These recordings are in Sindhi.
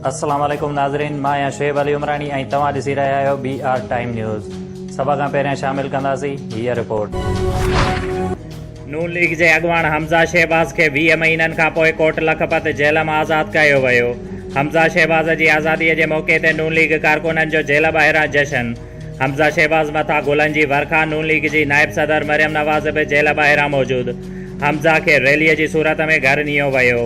السلام عليڪم ناظرين مان آهيان شعيب علي عمراڻي ۽ توهان ڏسي رهيا آهيو بي آر ٽائيم نيوز سڀ کان پهريان شامل ڪنداسين هي رپورٽ نون ليگ جي اڳواڻ حمزه شهباز کي ويهه مهينن کان پوء ڪورٽ لکپت جيل مان آزاد ڪيو ويو حمزه شهباز جي آزادي جي موقعي تي نون ليگ ڪارڪنن جو جيل ٻاهران جشن حمزه شهباز مٿان گلن جي ورکا، نون ليگ جي نائب صدر مريم نواز به جيل ٻاهران موجود، حمزه کي ريلي جي صورت ۾ گهر نيو ويو.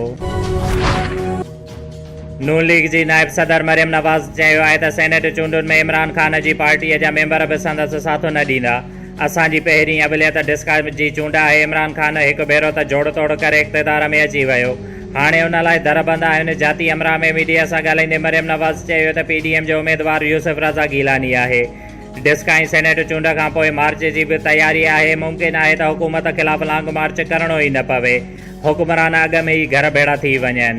نون ليگ جي نائب صدر مريم نواز چيو آهي ته سينيٽ چونڊن ۾ عمران خان جي پارٽي جا ميمبر به سندس ساٿ نه ڏيندا، اسان جي پهرين اوليت ڊسڪا جي چونڊ آهي، عمران خان هڪ ڀيرو ته جوڙ توڙ ڪري اقتدار ۾ اچي ويو، هاڻي ان لاء در بند آهن. جاتي امراء ۾ ميڊيا سان ڳالهائيندي مريم نواز چيو ته پي ڊي ايم جو اميدوار يوسف رضا گيلاني آهي، ڊسڪ ۽ سينيٽ چونڊ کانپوء مارچ جي به تياري آهي، ممڪن آهي ته حڪومت خلاف لانگ مارچ ڪرڻو ئي نه پوي، حڪمران اڳ ۾ ئي گهر ڀيڙا ٿي وڃن.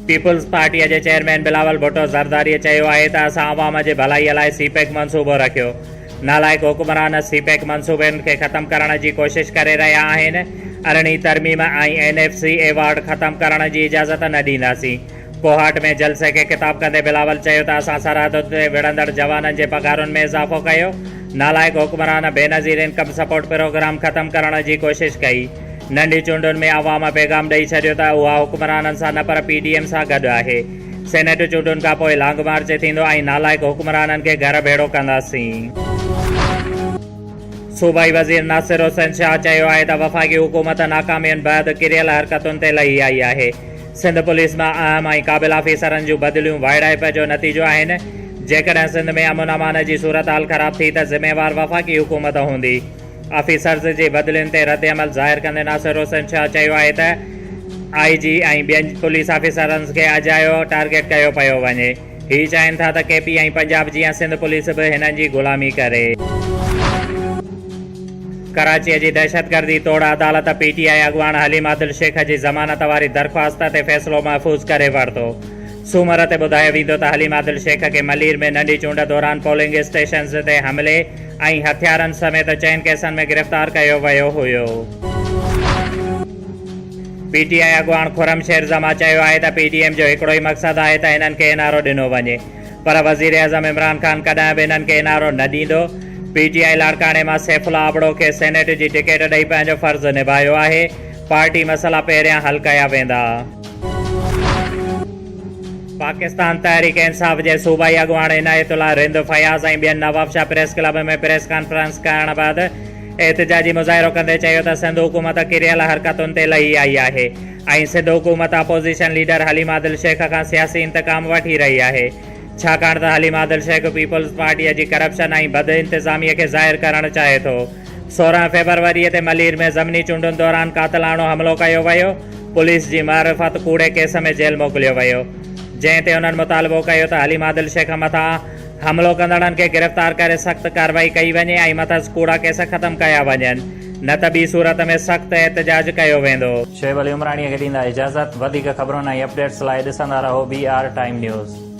پيپلز پارٽيء جي چيئرمين بلاول ڀٽو زرداريء چيو آهي ته اسان عوام جي ڀلائيء لاء سي پيڪ منصوبو رکيو، نالائق حڪمران سي پيڪ منصوبن کي ختم ڪرڻ جي ڪوشش ڪري رهيا آهن، ارڙهين ترميم ۽ اين ايف سي ايوارڊ ختم ڪرڻ جي اجازت نه ڏينداسين. ڪوهاٽ ۾ جلسي کي خطاب ڪندي بلاول چيو ته اسان سرحدن تي وڙهندڙ جوانن جي پگهارن ۾ اضافو ڪيو، نالائق حڪمران بينظير انڪم سپورٽ پروگرام ختم ڪرڻ جي ڪوشش ڪئي. ننڍي چونڊن ۾ عوام پيغام ڏئي ڇڏيو ته اها حڪمرانن سان نه پر پي ڊي ايم سان گڏ آهي، سينيٽ چونڊن کان پوء لانگ مارچ ٿيندو ۽ نالائق حڪمرانن کي گهر ڀيڙو ڪنداسين. صوبائي وزير ناصر حسين شاهه چيو آهي ته وفاقي حڪومت ناڪامين بعد ڪريل حرڪتن تي لهي آئي آهي، سنڌ پوليس مان اهم ۽ قابل آفيسرن جون بدليون وائڙائپ جو نتيجو آهن، جيڪڏهن سنڌ ۾ امن امان جي صورتحال خراب ٿي ته ذميوار وفاقي حڪومت هوندي. آفيسرز جي بدلين تي ردعمل ظاهر ڪندي ناصر حسين شاهه چيو آهي ته آء جي ۽ ٻين پوليس آفيسرز کي اجايو ٽارگيٽ ڪيو پيو وڃي، هي چاهين ٿا ته ڪي پي ۽ پنجاب جيان سنڌ پوليس به هنن جي غلامي ڪري. ڪراچي جي دهشتگردي توڙ عدالت پي ٽي آء اڳواڻ حليم عادل شيخ جي ضمانت واري درخواست تي فيصلو محفوظ ڪري ورتو. سومر تي ٻڌايو ويندو ته حليم عادل شيخ کي ملير ۾ ننڍي چونڊ دوران پولنگ اسٽيشنز تي حملي، ۽ هٿيارن سميت چئن ڪيسن ۾ گرفتار ڪيو ويو هيو. پي ٽي آء اڳواڻ خرم شير زمان چيو آهي ته پي ڊي ايم جو هڪڙو ئي مقصد آهي ته هنن کي اين آر او ڏنو وڃي پر وزيراعظم عمران خان ڪڏهن به هنن کي اين آر او نه ڏيندو، پي ٽي آء لاڙڪاڻي مان سيف الله ابڙو کي سينيٽ جي ٽڪيٽ ڏئي پنهنجو فرض نڀايو آهي، پارٽي مسئلا پهريان حل ڪيا ويندا. پاڪستان تحريڪ انصاف جي صوبائي اڳواڻ عنايت الله رند فياض ۽ ٻين Nawabshah press club ۾ press conference ڪرڻ بعد احتجاجي مظاهرو ڪندي چيو ته سنڌ حڪومت ڪريل حرڪتن تي لهي آئي آهي ۽ سنڌ حڪومت اپوزيشن ليڊر حليم عادل شيخ کان سياسي انتقام وٺي رهي آهي ڇاڪاڻ ته حليم عادل شيخ پيپلز پارٽي جي ڪرپشن ۽ بد انتظامي کي ظاهر ڪرڻ چاهي ٿو. سورهن فيبروريء تي ملير ۾ ضمني چونڊن دوران قاتلاڻو حملو ڪيو ويو، پوليس جي معرفت ڪوڙي ڪيس ۾ جيل موڪليو ويو، جنهن تي انهن مطالبو ڪيو ته حليم عادل شيخ مٿان حملو ڪندڙن کي گرفتار ڪري سخت ڪارروائي ڪئي وڃي ۽ مٿس ڪوڙا ڪيس ختم ڪيا وڃن نه ته ٻي صورت ۾ سخت احتجاج ڪيو ويندو. شعيب علي عمراڻيء کي ڏيندا اجازت. وڌيڪ خبرن ۽ اپڊيٽس لاء ڏسندا رهو بي آر ٽائيم نيوز.